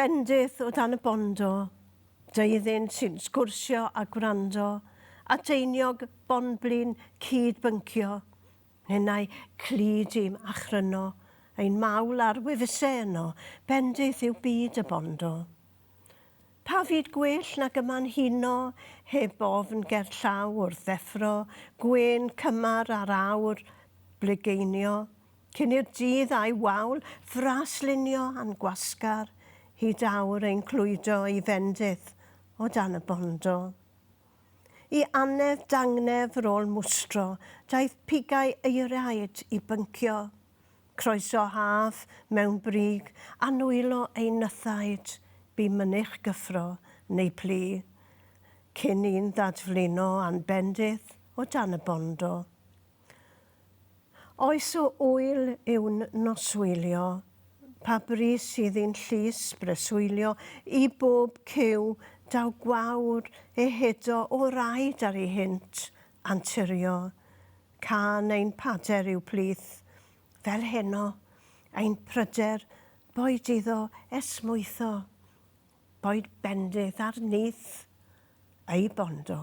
Bendith o dan y bondo, deuddyn sy'n sgwrsio a gwrando, ateiniog bonblin cyd-byncio, ninnau clyd i'm achryno, ein mawl ar wefusau yno, bendith yw byd y bondo. Pa fyd gwell nag yma'n huno, heb ofn gerllaw wrth ddeffro, gwên cymar ar awr blugeinio, Cyn i'r dydd a'i wawl fras lunio a'n gwasgar hyd awr ein clwydo i fendith o dan y bondo. I annedd dangnefr ôl mwstro daeth pigau euraid i byncio, croeso haf mewn brig a nwylo ein nythaid, bu mynych gyffro neu plu, cyn i'n ddadflino a'n bendith o dan y bondo. Oes o ŵyl yw'n noswylio? Pa bri sydd i'n llys breswylio i bob cyw daw gwawr ehedo o'r aed ar ei hynt anturio? Cân ein pader yw plith, fel heno, ein pryder boed iddo esmwytho, boed bendith ar nyth ei bondo.